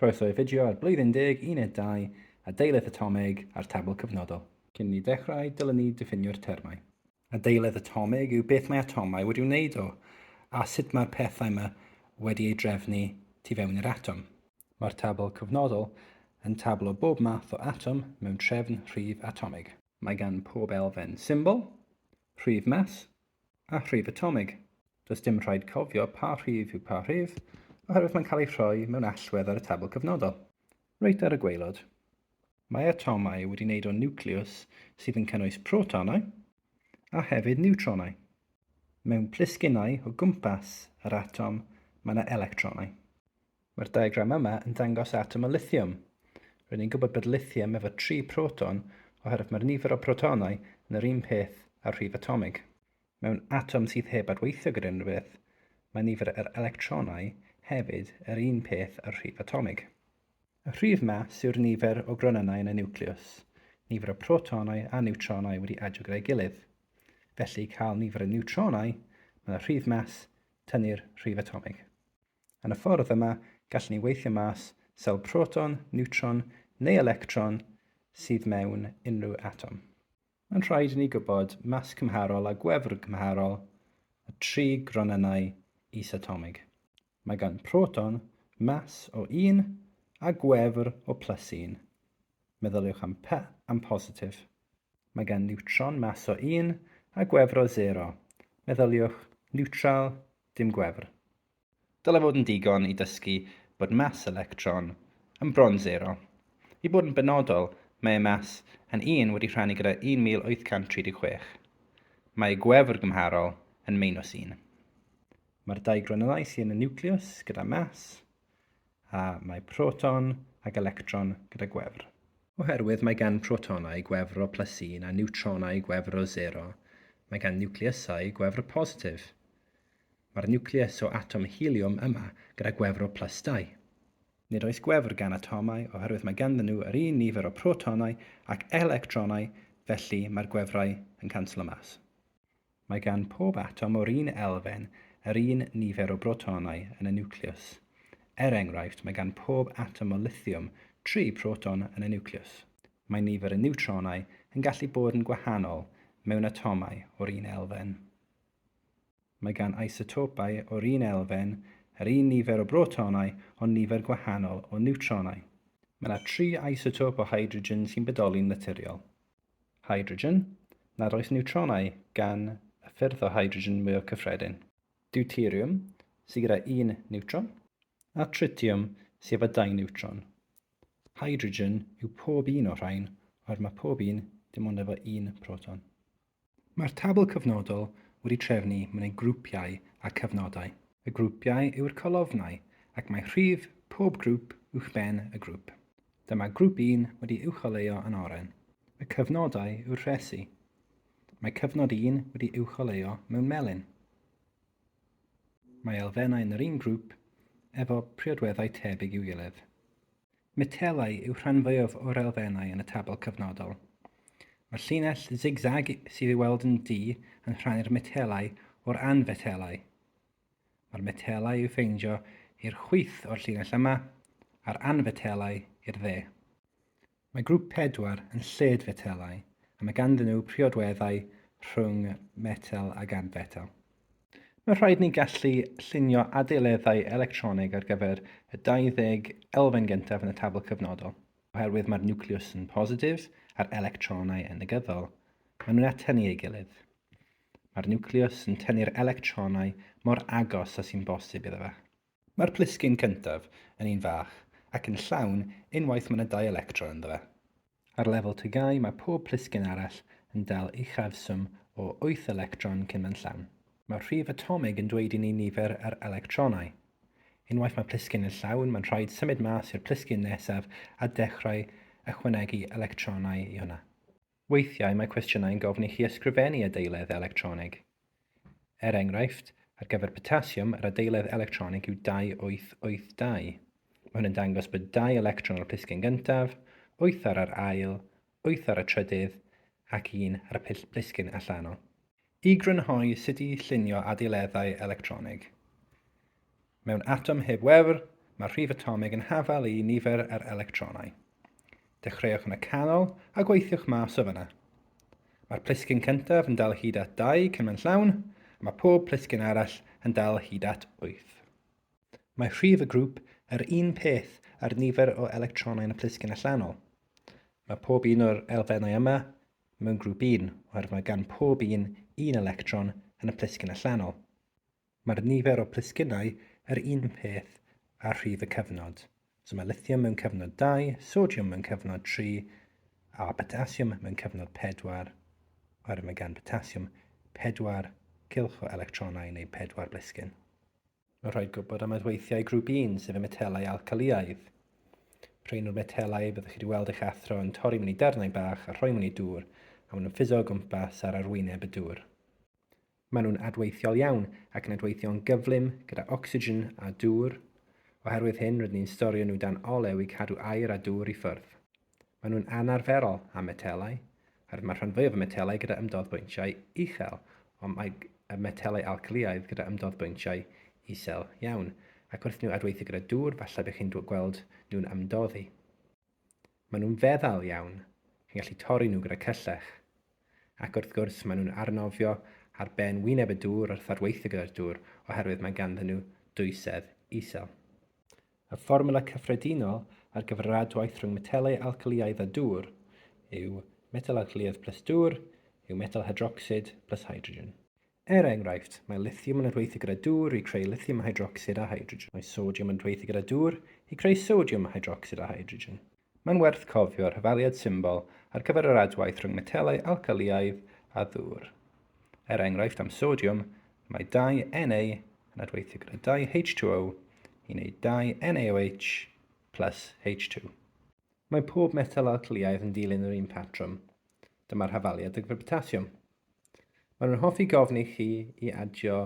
Croeso i fideo ar Blwyddyn Deg Uned Dau a Deiledd Atomig a'r Tabl Cyfnodol. Cyn ni ddechrau, dylwn ni ddiffinio'r termau. A deiledd atomig yw beth mae atomau wedi wneud o, a sut mae'r pethau yma wedi ei drefnu tu fewn i'r atom. Mae'r Tabl Cyfnodol yn tabl o bob math o atom mewn trefn rhif atomig. Mae gan pob elfen symbol, rhif mas, a rhif atomig. Does dim rhaid cofio pa rhif yw pa rhif, oherwydd mae'n cael ei rhoi mewn allwedd ar y tabl cyfnodol. Reit ar y gwaelod, mae atomau wedi wneud o niwclews sydd yn cynnwys protonau a hefyd niwtronau. Mewn plisgynnau o gwmpas yr atom mae yna electronau. Mae'r diagram yma yn dangos atom o lithiwm. Rŷn ni'n gwybod bod lithium efo tri proton oherwydd mae'r nifer o protonau yn yr un peth â'r rhif atomig. Mewn atom sydd heb adweithio gyda unrhyw beth, mae nifer yr electronau hefyd yr un peth â'r rhif atomig. Y rhif mas yw'r nifer o gronynnau yn y niwclews, nifer o protonau a niwtronau wedi adio gyda'i gilydd. Felly, i cael nifer y niwtronau, mae y rhif mas tynnu'r rhif atomig. Yn y ffordd yma, gallen ni weithio mas sawl proton, niwtron neu electron sydd mewn unrhyw atom. Mae'n rhaid i ni gwybod mas cymharol a gwefr cymharol y tri gronynnau isatomig. Mae gan proton mas o un a gwefr o plus un. Meddyliwch am P am positif. Mae gan niwtron mas o un a gwefr o sero. Meddyliwch niwtral dim gwefr. Dylai fod yn digon i dysgu bod mass electron yn bron sero. I fod yn benodol, mae ei mass yn un wedi rhannu gyda 1836. Mae ei gwefr gymharol yn meinws un. Mae'r dau gronylau sy yn y niwclews gyda mass a mae proton ag electron gyda gwefr. Oherwydd mae gan protonau gwefr o plus un a niwtronau gwefr o sero, mae gan niwcleusau gwefr positif. Mae'r niwclews o atom heliwm yma gyda gwefr o plus dau. Nid oes gwefr gan atomau oherwydd mae ganddyn nhw yr un nifer o protonau ac electronau felly mae'r gwefrau yn canslo mas. Mae gan pob atom o'r un elfen yr un nifer o brotonau yn y niwclews. Er enghraifft, mae gan pob atom o lithiwm tri proton yn y niwclews. Mae nifer y niwtronau yn gallu bod yn gwahanol mewn atomau o'r un elfen. Mae gan isotopau o'r un elfen yr un nifer o brotonau ond nifer gwahanol o niwtronau. Mae yna tri isotop o hydrogen sy'n bodoli'n naturiol. hydrogen, nad oes niwtronau gan y ffyrdd o hydrogen mwyaf cyffredin. Deuteriwm, sydd gyda un niwtron. A tritiwm, sydd efo dau niwtron. Hydrogen yw pob un o'r rhain, oherwydd mae pob un dim ond efo un proton. Mae'r tabl cyfnodol wedi trefnu mewn ei grwpiau a cyfnodau. Y grwpiau yw'r colofnau, ac mae rhif pob grŵp uwchben y grŵp. Dyma Grŵp Un wedi uwcholeuo yn oren. Y cyfnodau yw'r rhesi. Mae Cyfnod Un wedi uwcholeuo mewn melyn. Mae elfennau yn yr un grŵp efo priodweddau tebyg i'w gilydd. Metelau yw rhan fwyaf o'r elfennau yn y tabl cyfnodol. Mae'r llinell zig-zag sydd i'w weld yn du yn rhannu'r metelau o'r anfetelau. Mae'r metelau i'w ffeindio i'r chwith o'r llinell yma, a'r anfetelau i'r dde. Mae grŵp 4 yn lled-fetelau, a mae ganddyn nhw priodweddau rhwng metel ac anfetel. Mae'n rhaid ni gallu llunio adeileddau electronig ar gyfer y 20 elfen gyntaf yn y tabl cyfnodol, oherwydd mae'r niwclews yn positif a'r electronau yn negyddol. Maen nhw'n atynu ei gilydd. Mae'r niwclews yn tynnu'r electronau mor agos â sy'n bosib iddo fe. Mae'r plisgyn cyntaf yn un fach ac yn llawn unwaith mae yna dau electron ynddo fe. Ar lefel tygau mae pob plisgyn arall yn dal uchafswm o wyth electron cyn mae'n llawn. Mae'r rhif atomig yn dweud i ni nifer yr electronau. Unwaith mae plisgyn yn llawn mae'n rhaid symud mas i'r plisgyn nesaf a dechrau ychwanegu electronau i hwnna. Weithiau mae cwestiynau yn gofyn i chi ysgrifennu adeiledd electronig. Er enghraifft, ar gyfer potasiwm yr adeiledd electronig yw 2882. Mae hwn yn dangos bod dau electron ar y plisgyn gyntaf, wyth ar yr ail, wyth ar y trydydd ac un ar y plisgyn allanol. I grynhoi sut i llunio adeileddau electronig. Mewn atom heb wefr, mae'r rhif atomig yn hafal i nifer yr electronau. Dechreuwch yn y canol a gweithiwch mas o fyna. Mae'r plisgyn cyntaf yn dal hyd at 2 cymen llawn, a mae pob plisgyn arall yn dal hyd at 8. Mae rhif y grŵp yr un peth a'r nifer o electronau yn y plisgyn allanol. Mae pob un o'r elfennau yma mewn grŵp un oherwydd mae gan pob un un electron yn y plisgyn allanol. Mae'r nifer o plisgynnau yr un peth a rhif y cyfnod. So mae lithium mewn cyfnod 2, sodiwm mewn cyfnod 3, a potasiwm mewn cyfnod 4, oherwydd mae gan potasiwm 4 cylch o electronau neu 4 blisgyn. Mae'n rhaid gwybod am adweithiau grŵp 1, sef y metelau alcalïaidd. Rhain yw'r metelau y byddwch chi wedi weld eich athro yn torri mewn i darnau bach a rhoi mewn i dŵr, a maen nhw'n ffuso o gwmpas ar arwyneb y dŵr. Maen nhw'n adweithiol iawn ac yn adweithio'n gyflym gyda ocsigen a dŵr. Oherwydd hyn, rydyn ni'n storio nhw dan olew i cadw aer a dŵr i ffwrdd. Maen nhw'n anarferol am metelau, oherwydd mae'r rhan fwyaf o metelau gyda ymdodd bwyntiau uchel, ond mae y metelau alcaliaidd gyda ymdodd bwyntiau isel iawn, ac wrth nhw adweithio gyda dŵr falle bych chi'n gweld nhw'n ymdoddi. Maen nhw'n feddal iawn, chi'n gallu torri nhw gyda cyllell. Ac wrth gwrs maen nhw'n arnofio ar ben wyneb y dŵr wrth adweithio gyda'r dŵr oherwydd mae ganddyn nhw dwysedd isel. Y fformwla cyffredinol ar gyfer yr adwaith rhwng metelau alcalïaidd a dŵr yw metel alcalïaidd plus dŵr yw metel hydrocsid plus hydrogen. Er enghraifft, mae lithiwm yn adweithio gyda dŵr i creu lithiwm hydrocsid a hydrogen. Mae sodiwm yn adweithio gyda dŵr i creu sodiwm hydrocsid a hydrogen. Mae'n werth cofio'r hyfaliad symbol ar gyfer yr adwaith rhwng metelau alcaliaidd a ddŵr. Er enghraifft am sodiwm, mae dau Na yn adweithio gyda dau H2O i wneud dau NaOH plus H2. Mae pob metel alcaliaidd yn dilyn yr un patrwm, dyma'r hyfaliad degfed potasiwm. Maen nhw'n hoffi gofyn i chi i adio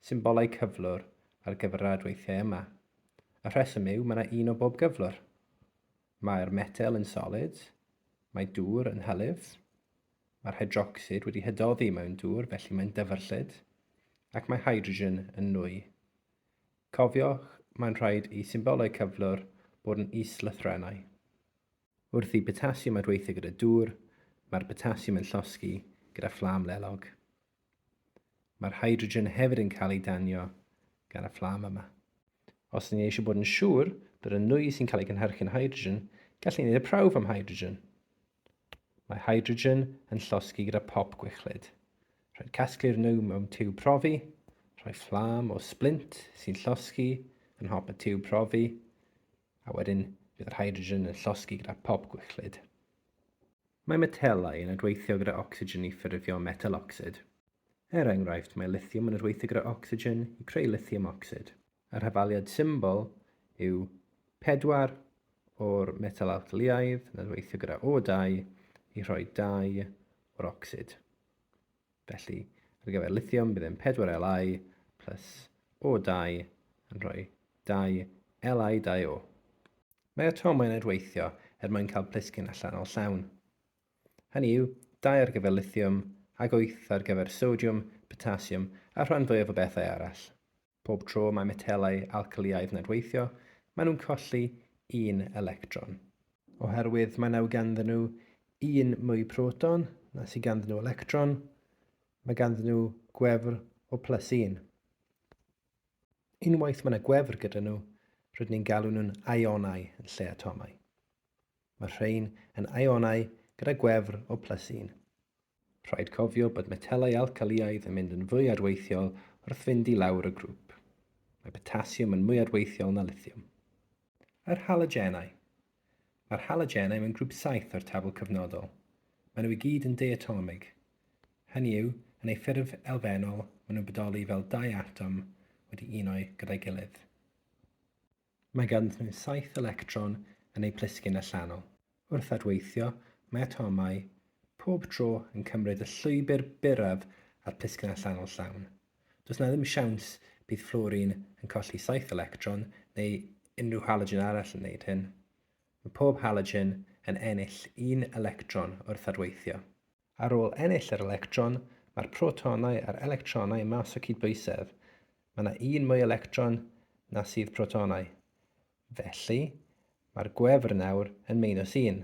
symbolau cyflwr ar gyfer yr adweithiau yma. Y rheswm yw mae yna un o bob cyflwr. Mae'r metel yn solid, mae dŵr yn hylif, mae'r hydrocsid wedi hydoddi mewn dŵr felly mae'n dyfrllyd, ac mae hydrogen yn nwy. Cofiwch, mae'n rhaid i symbolau cyflwr bod yn is-lythrennau. Wrth i botasiwm adweithio gyda dŵr, mae'r botasiwm yn llosgi gyda fflam lelog. Mae'r hydrogen hefyd yn cael ei danio gan y fflam yma. Os ydyn ni eisiau bod yn siŵr bod y nwy sy'n cael ei gynhyrchu'n hydrogen, gallu gwneud y prawf am hydrogen. Mae hydrogen yn llosgi gyda pop gwichlyd. Rhaid casglu'r nwy mewn tiwb profi, rhoi fflam o splint sy'n llosgi yn hop y tiwb profi, a wedyn bydd yr hydrogen yn llosgi gyda pop gwichlyd. Mae metelau yn adweithio gyda ocsigen i ffurfio metel ocsid. Er enghraifft, mae lithiwm yn adweithio gyda ocsigen i creu lithiwm ocsid. Y rhafaliad symbol yw 4 o'r metel alcalïaidd yn adweithio gyda O2 i rhoi 2 o'r ocsid. Felly, ar gyfer lithiwm, bydd e'n 4 Li plus O2 yn rhoi 2 Li2O. Mae atomau'n adweithio er mwyn cael plisgyn allanol llawn. Hynny yw, dau ar gyfer lithiwm ac wyth ar gyfer sodiwm, potasiwm a'r rhan fwyaf o bethau arall. Pob tro mae metelau alcalïaidd yn adweithio, maen nhw'n colli un electron. Oherwydd mae naw ganddyn nhw un mwy proton na sydd ganddyn nhw electron, mae ganddyn nhw gwefr o plus un. Unwaith mae yna gwefr gyda nhw, rydyn ni'n galw nhw'n ionau yn lle atomau. Mae'r rhain yn ionau gyda gwefr o plus un. Rhaid cofio bod metelau alcaliaidd yn mynd yn fwy adweithiol wrth fynd i lawr y grŵp. Mae potasiwm yn mwy adweithiol na lithiwm. Yr halogenau. Mae'r halogenau mewn grŵp saith o'r tabl cyfnodol. Maen nhw i gyd yn deiatomig. Hynny yw, yn eu ffurf elfennol, maen nhw'n bodoli fel dau atom wedi uno gyda'i gilydd. Mae ganddynt nhw saith electron yn eu plisgyn allanol. Wrth adweithio, mae atomau pob tro yn cymryd y llwybr byrraf a'r plisgyn allanol llawn. Does yna ddim siawns bydd fflwrin yn colli saith electron neu unrhyw halogen arall yn wneud hyn. Mae pob halogen yn ennill un electron wrth adweithio. Ar ôl ennill yr electron, mae'r protonau a'r electronau mas o cydbwysedd. Mae yna un mwy electron na sydd protonau. Felly, mae'r gwefr nawr yn meinws un.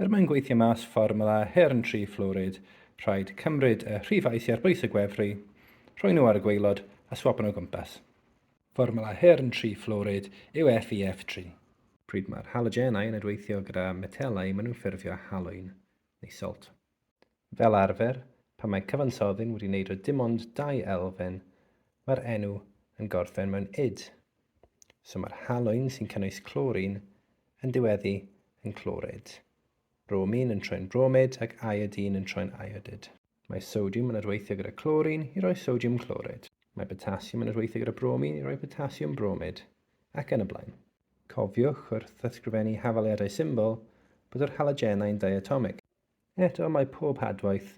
Er mwyn gweithio mas fformwla her yn tri fflwrid, rhaid cymryd y rhifau sy ar bwys y gwefru, rhoi nhw ar y gwaelod a swapo nhw o gwmpas. Fformwla her yn tri fflwrid yw FeF3. Pryd mae'r halogenau yn adweithio gyda metelau maen nhw'n ffurfio halwyn, neu salt. Fel arfer, pan mae cyfansoddyn wedi wneud o dim ond dau elfen, mae'r enw yn gorffen mewn id. So mae'r halwyn sy'n cynnwys clorin yn diweddu yn clorid, bromin yn troi'n bromid ac iodine yn troi'n iodid. Mae sodiwm yn adweithio gyda clorin i roi sodiwm clorid. Mae potasiwm yn adweithio gyda bromin i roi potasiwm bromid, ac yn y blaen. Cofiwch, wrth ysgrifennu hafaliadau symbol, bod yr halogenau'n diatomig. Eto, mae pob hadwaith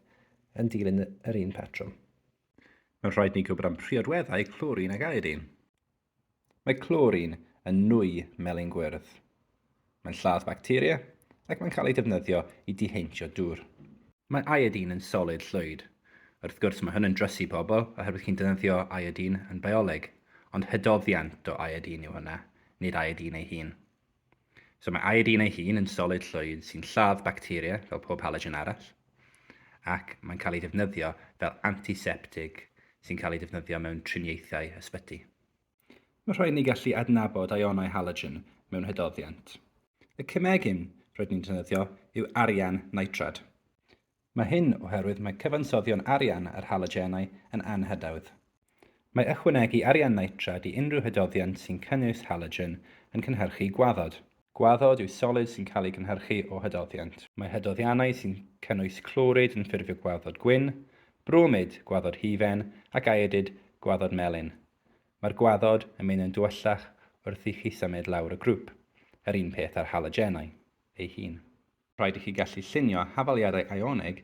yn dilyn yr un patrwm. Mae'n rhaid ni gwybod am priodweddau clorin ac iodin. Mae clorin yn nwy melyn gwyrdd. Mae'n lladd bacteria ac mae'n cael ei defnyddio i diheintio dŵr. Mae iodin yn solid llwyd. Wrth gwrs, mae hwn yn drysu pobl oherwydd chi'n defnyddio iodin yn bioleg, ond hydoddiant o iodin yw hwnna, nid iodin ei hun. So mae iodine ei hun yn solid llwyd sy'n lladd bacteria fel pob halogen arall ac mae'n cael ei ddefnyddio fel antiseptig sy'n cael ei ddefnyddio mewn triniaethau ysbyty. Mae'n rhaid ni gallu adnabod ionau halogen mewn hydoddiant. Y cemegyn roedd ni'n defnyddio yw arian nitrad. Mae hyn oherwydd mae cyfansoddion arian yr halogenau yn anhydawdd. Mae ychwanegu arian nitrad i unrhyw hydoddiant sy'n cynnwys halogen yn cynhyrchu gwaddod. Gwaddod yw solid sy'n cael ei gynhyrchu o hydoddiant. Mae hydoddiannau sy'n cynnwys clorid yn ffurfio gwaddod gwyn, bromid, gwaddod hufen, ac iodid, gwaddod melyn. Mae'r gwaddod yn mynd yn dywyllach wrth i chi symud lawr y grŵp, yr un peth â'r halogenau ei hun. Rhaid i chi gallu llunio hafaliadau ionig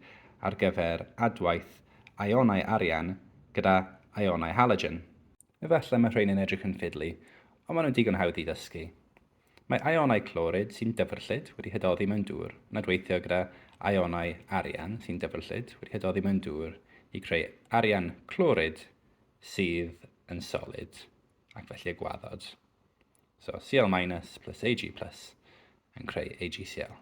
ar gyfer adwaith ionau arian gyda ionau halogen. Efallai mae rheini'n edrych yn fiddly, ond maen nhw'n digon hawdd i ddysgu. Mae ionau clorid sy'n dyfrllyd wedi hydoddi mewn dŵr yn adweithio gyda ionau arian sy'n dyfrllyd wedi hydoddi mewn dŵr i creu arian clorid sydd yn solid ac felly y gwaddod. So Cl minus plus Ag plus yn creu AgCl.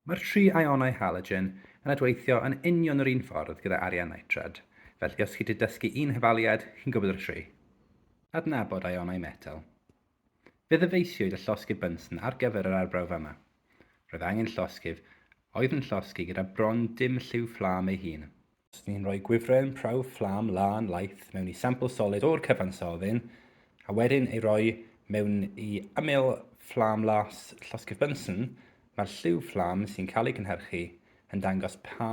Mae'r tri ionau halogen yn adweithio yn union yr un ffordd gyda arian nitrad, felly os chi 'di dysgu un hafaliad, chi'n gwybod y tri. Adnabod ionau metel. Fe ddyfeisiwyd y llosgydd Bunsen ar gyfer yr arbrawf yma. Roedd angen llosgydd oedd yn llosgi gyda bron dim lliw fflam ei hun. Os ni'n rhoi gwifren prawf fflam lân laith mewn i sampl solid o'r cyfansoddyn, a wedyn ei roi mewn i ymyl fflam las llosgi'r Bunsen, mae'r lliw fflam sy'n cael ei gynhyrchu yn dangos pa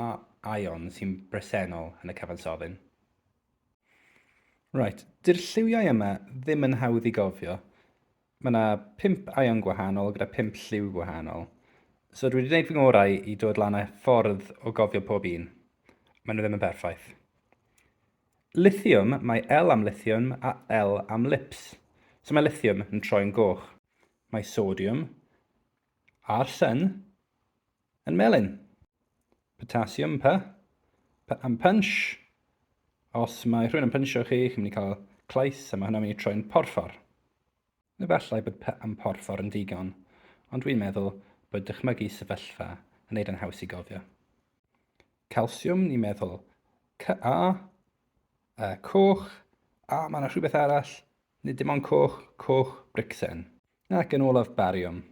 aeon sy'n bresennol yn y cyfansoddyn. Reit, dy'r lliwiau yma ddim yn hawdd i gofio, Mae yna pump aion gwahanol gyda pump lliw gwahanol. So dwi wedi gwneud fy ngorau i dod lan â ffordd o gofio pob un. Mae nhw ddim yn perffaith. Lithium, mae L am lithium a L am lips. So mae lithium yn troi'n goch. Mae sodium, arsen, Yn melyn. Potassium, pa? pa am punch. Os mae rhywun yn pynsio chi, chi'n mynd i cael clais a mae hwnna'n mynd i troi'n porffor. Efallai bod pa am porffor yn digon, ond dwi'n meddwl bod dychmygu sefyllfa yn neud yn haws i gofio. Calsiwm, ni'n meddwl ca, a coch, a mae yna rhywbeth arall, nid dim ond coch, coch bricsen. Ac yn olaf bariwm,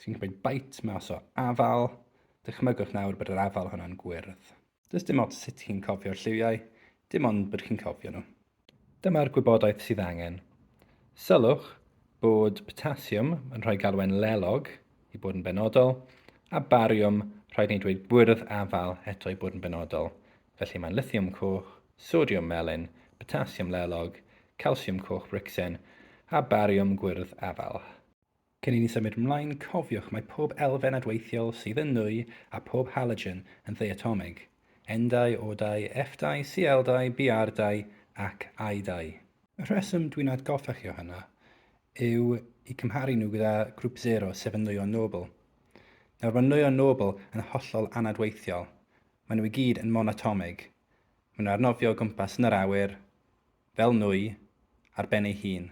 sy'n cymryd bait mas o afal, dychmygwch nawr bod yr afal honno'n gwyrdd. Does dim ots sut chi'n cofio'r lliwiau, dim ond bod chi'n cofio nhw. Dyma'r gwybodaeth sydd angen. Sylwch bod potasiwm yn rhoi galwen lelog i bod yn benodol, a bariwm, rhaid ni dweud gwyrdd afal eto i bod yn benodol, felly mae'n lithiwm coch, sodiwm melyn, potasiwm lelog, calsiwm coch bricsen, a bariwm gwyrdd afal. Cyn i ni symud mlaen, cofiwch mae pob elfen adweithiol sydd yn nwy a phob halogen yn ddeuatomig, N-dau, O-dau, F-dau, Cl-dau, Br-dau ac I-dau. Y rheswm dwi'n atgoffa chi o hynna yw i cymharu nhw gyda grŵp sero sef y nwyon nobl. Nawr mae nwyon nobl yn hollol anadweithiol, maen nhw i gyd yn monatomig, maen nhw ar nofio o gwmpas yn yr awyr, fel nwy ar ben ei hun,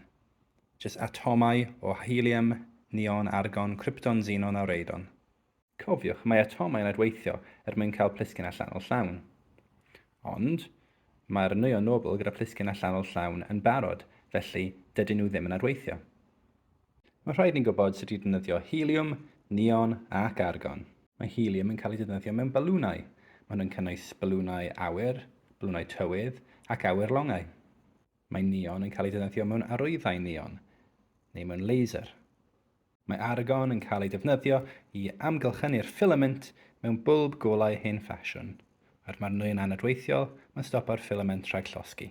jyst atomau o helium, neon, argon, krypton, xenon a radon. Cofiwch, mae atomau'n adweithio er mwyn cael plisgyn allanol llawn. Ond, mae'r nwyon nobl gyda phlisgyn allanol llawn yn barod, felly, dydyn nhw ddim yn adweithio. Mae rhaid ni gwybod sut i ddefnyddio heliwm, neon ac argon. Mae heliwm yn cael ei ddefnyddio mewn balwnau. Mae hwn yn cynnwys balwnau awyr, balwnau tywydd ac awyr longau. Mae neon yn cael ei ddefnyddio mewn arwyddau neon neu mewn laser. Mae argon yn cael ei defnyddio i amgylchynu'r ffilament mewn bwlb golau hen ffasiwn. Er mae'r nwy yn anadweithiol, mae'n stopo'r ffilament rhag llosgi.